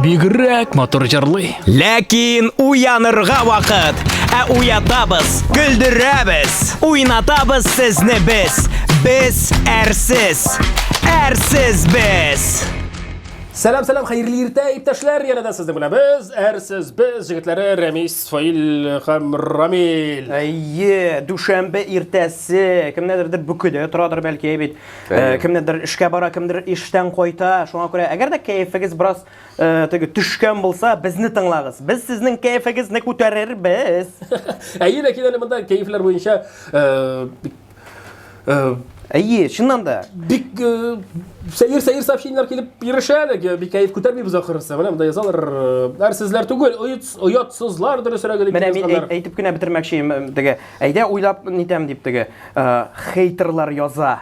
Бигрәк матур җырлый. Ләкин уянырга вакыт. Ә уятабыз, көлдерәбез, уйнатабыз сезне без. Без әрсез. Әрсез без. Сәлам, сәлам, хәерле иртә, иптәшләр. Янә дә сезнең белән без, әрсез без җегетләре Рәмис, Фаил һәм Рамил. Әйе, дүшәмбе иртәсе. Кемнәдер дә бүкедә торадыр бәлки, әйбит. Э, кемнедер эшкә бара, кемдер иштән кайта. Шуңа күрә, әгәр дә кәефегез бераз э, теге төшкән булса, безне тыңлагыз. Без сезнең кәефегезне күтәрербез. Әйе, ләкин әле монда кәефләр буенча э, Әйе, чыннан да. Бик сәер-сәер сообщениеләр килеп ирешә әле, бик кәеф күтәрмибез ахырысы. Менә монда язалар, әр сезләр түгел, оятсызлар дөресрәге дип. Менә мин әйтеп кенә бетермәкче идем, теге Әйдә уйлап нитәм дип теге э, хейтерлар яза.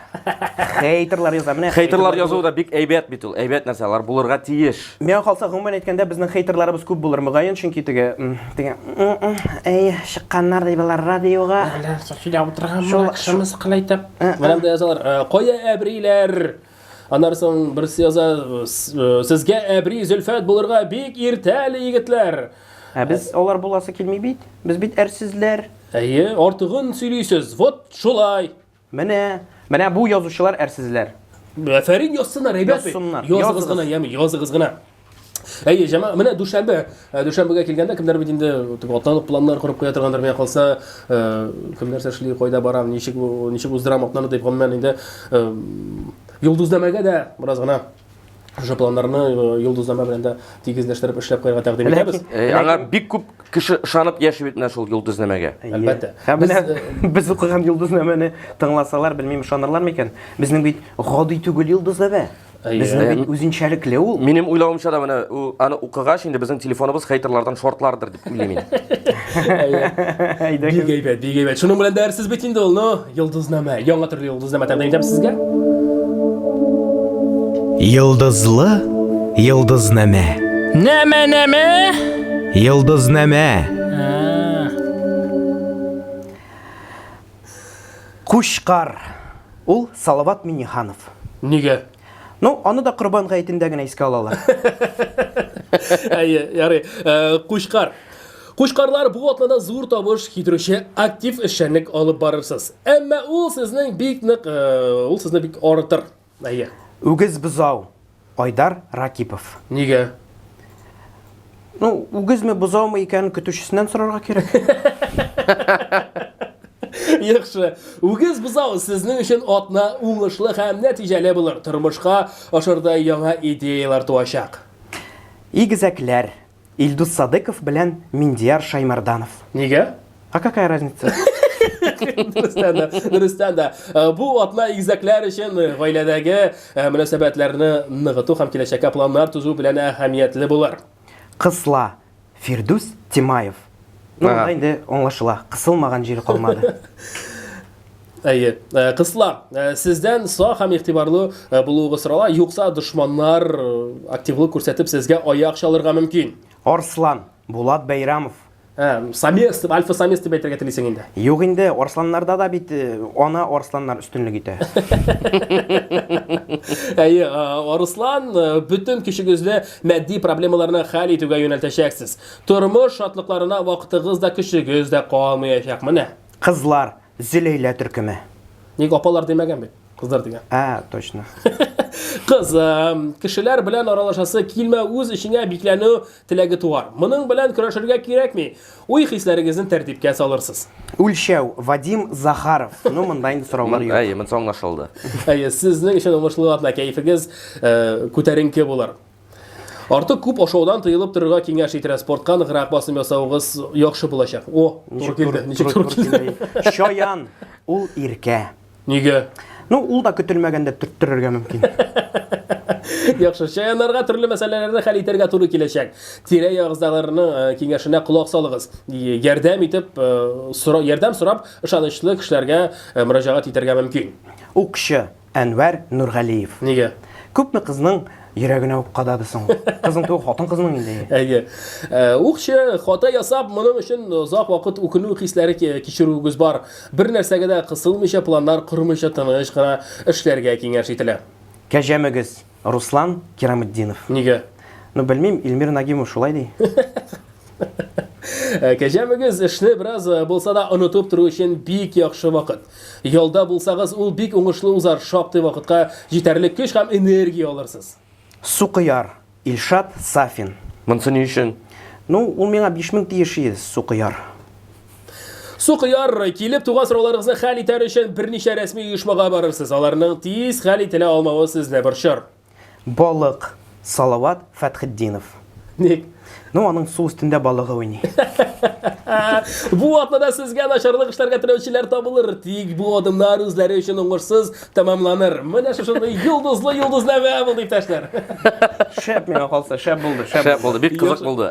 Хейтерлар яза. Менә Хейтерлар язу да бик әйбәт бит ул. Әйбәт нәрсә, алар булырга тиеш. Миңа калса, гомумән әйткәндә, безнең хейтерларыбыз күп булыр мөгаен, чөнки теге м, теге м, м, әй чыкканнар ди болар радиога. Әллә Софида утырган Шул- шул- шымы сыкылайтып. Ә, Менә монда язалар, э, кая әбриләр? Аннары соң берсе яза, сезгә әбри Зөлфәт булырга бик иртә әле, егетләр. Ә без алар буласы килми бит. Без бит әрсезләр. Әйе, артыгын сөйлисез. Вот шулай. Менә, менә бу язучылар әрсезләр. Афәрин язсыннар, ребята. Язсыннар. Языгыз гына, яме, языгыз гына. Әйе, җәмәгать, менә дүшәмбе, э, дүшәмбегә килгәндә кемнәр бит инде тип атланып планнар корып куя торгандыр, менә калса, э, кем нәрсә эшли, кайда барам, ничек ничек уздырам атнаны дип гомумән инде э, Йолдызнамәгә дә бераз гына шушы планнарны Йолдызнамә белән дә тигезләштереп эшләп куярга тәкъдим итәбез. Аңа бик күп кеше ышанып яши бит менә шул Йолдызнамәгә. Әлбәттә. Һәм менә без укыган Йолдызнамәне тыңласалар, белмим ышанарлар микән? Безнең бит гади түгел Йолдызнамә. Безнең бит үзенчәлекле ул. Минем уйлавымча да менә аны укыгач инде безнең телефоныбыз хейтерлардан шортлардыр дип уйлыйм мин. Бик әйбәт, бик әйбәт. Шуның белән дәрсез бит инде ул, ну, Йолдызнамә. Яңа төрле Йолдызнамә тәкъдим итәм сезгә. Йолдызлы Йолдызнамә. Нәмә, нәмә? Йолдызнамә. Кучкар. Ул Салават Миннеханов. Нигә? Ну, аны да Корбан гаетендә генә искә алалар. Әйе, ярый. Кучкар. Кучкарлар бу атнада зур табыш китерүче актив эшчәнлек алып барырсыз. Әмма ул сезнең бик нык, ул сезне бик арытыр. Әйе. Үгез бозау. Айдар Ракипов. Нигә? Ну, үгезме, бозаумы икәнен көтүчесеннән сорарга кирәк. Яхшы. Үгез бозау сезнең өчен атна уңышлы һәм нәтиҗәле булыр. Тормышка ашырдай яңа идеяләр туачак. Игезәкләр, Илдус Садыков белән Миндияр Шаймарданов. Нигә? А какая разница? Дөрестән дә, дөрестән дә. Э, бу атна игезәкләр өчен э, гаиләдәге э, мөнәсәбәтләрне ныгыту һәм киләчәккә планнар төзү белән әһәмиятле булыр. Кысла. Фирдүс Тимаев. Ну, Ага. монда инде аңлашыла. Кысылмаган җире калмады. Әйе. Э, кызлар, э, сездән сак һәм игътибарлы э, булуыгыз сорала, юкса дошманнар активлык күрсәтеп сезгә аяк чалырга мөмкин. Арслан, Булат Бәйрамов. Ә, самец дип, альфа самец дип әйтергә телисең инде. Юк инде, арсланнарда да бит ана арсланнар өстенлек итә. Әйе, арслан бөтен көчегезне матди проблемаларны хәл итүгә юнәлтәчәксез. Тормыш шатлыкларына вакытыгыз да көчегез дә калмаячак. Менә. Кызлар, Зөләйлә төркеме. Ник апалар димәгән бит? Кызлар дигән. Ә, точно. Кыз, кешеләр белән аралашасы килмә, үз эчеңә бикләнү теләге туар. Моның белән көрәшергә кирәкми. Уй хисләрегезне тәртипкә салырсыз. Үлчәү, Вадим Захаров. Ну, монда инде сораулар юк. Әйе, монысы аңлашылды. Әйе, сезнең өчен уңышлы атна, кәефегез э, күтәренке булыр. Артык күп ашаудан тыелып торырга киңәш ителә. Спортка ныграк басым ясавыгыз яхшы булачак. О, туры килде. Ничек туры килде? Чаян, ул иркә. Нигә? Ну, ул да көтелмәгәндә төрттерергә мөмкин. Яхшы, чаяннарга төрле мәсьәләләрне хәл итәргә туры киләчәк. Тирә-ягыздагыларның э, киңәшенә колак салыгыз. Ярдәм итеп, э, сора, ярдәм сорап, ышанычлы кешеләргә э, мөрәҗәгать итәргә мөмкин. Укчы, Әнвәр Нургалиев. Нигә? Күпме кызның йөрәгенә үк кадады соң. Кызның түгел, хатын кызның инде. Әйе. Э, Укчы хата ясап, моның өчен озак вакыт үкенү хисләре кичерүегез бар. Бер нәрсәгә дә кысылмыйча, планнар кормыйча тыныч кына эшләргә киңәш ителә. Кәҗәмөгез. Руслан Кираметдинов. Нигә? Ну, белмим, Ильмир Нагимов шулай ди. Ә кәҗә мөгез эшне бераз э, булса да онытып тору өчен бик яхшы вакыт. Ялда булсагыз, ул бик уңышлы узар, шактый вакытка җитәрлек көч һәм энергия алырсыз. Сукыяр, Илшат Сафин. Монсы ни өчен? Ну, ул миңа 5000 тиеш иде, сукыяр. Сукыяр, килеп туган сорауларыгызны хәл итәр өчен берничә рәсми оешмага барырсыз. Аларның тиз хәл ителә алмавы сезне борчыр. Балык, Салават Фәтхетдинов. Ник? Ну, аның су өстендә балыгы уйный. Бу атнада сезгә начарлык эшләргә теләүчеләр табылыр, тик бу адымнар үзләре өчен уңышсыз тәмамланыр. Менә шушындый йолдызлы йолдызнамә булды, иптәшләр. Шәп миңа калса, шәп булды, шәп булды. Шәп булды, бик кызык булды.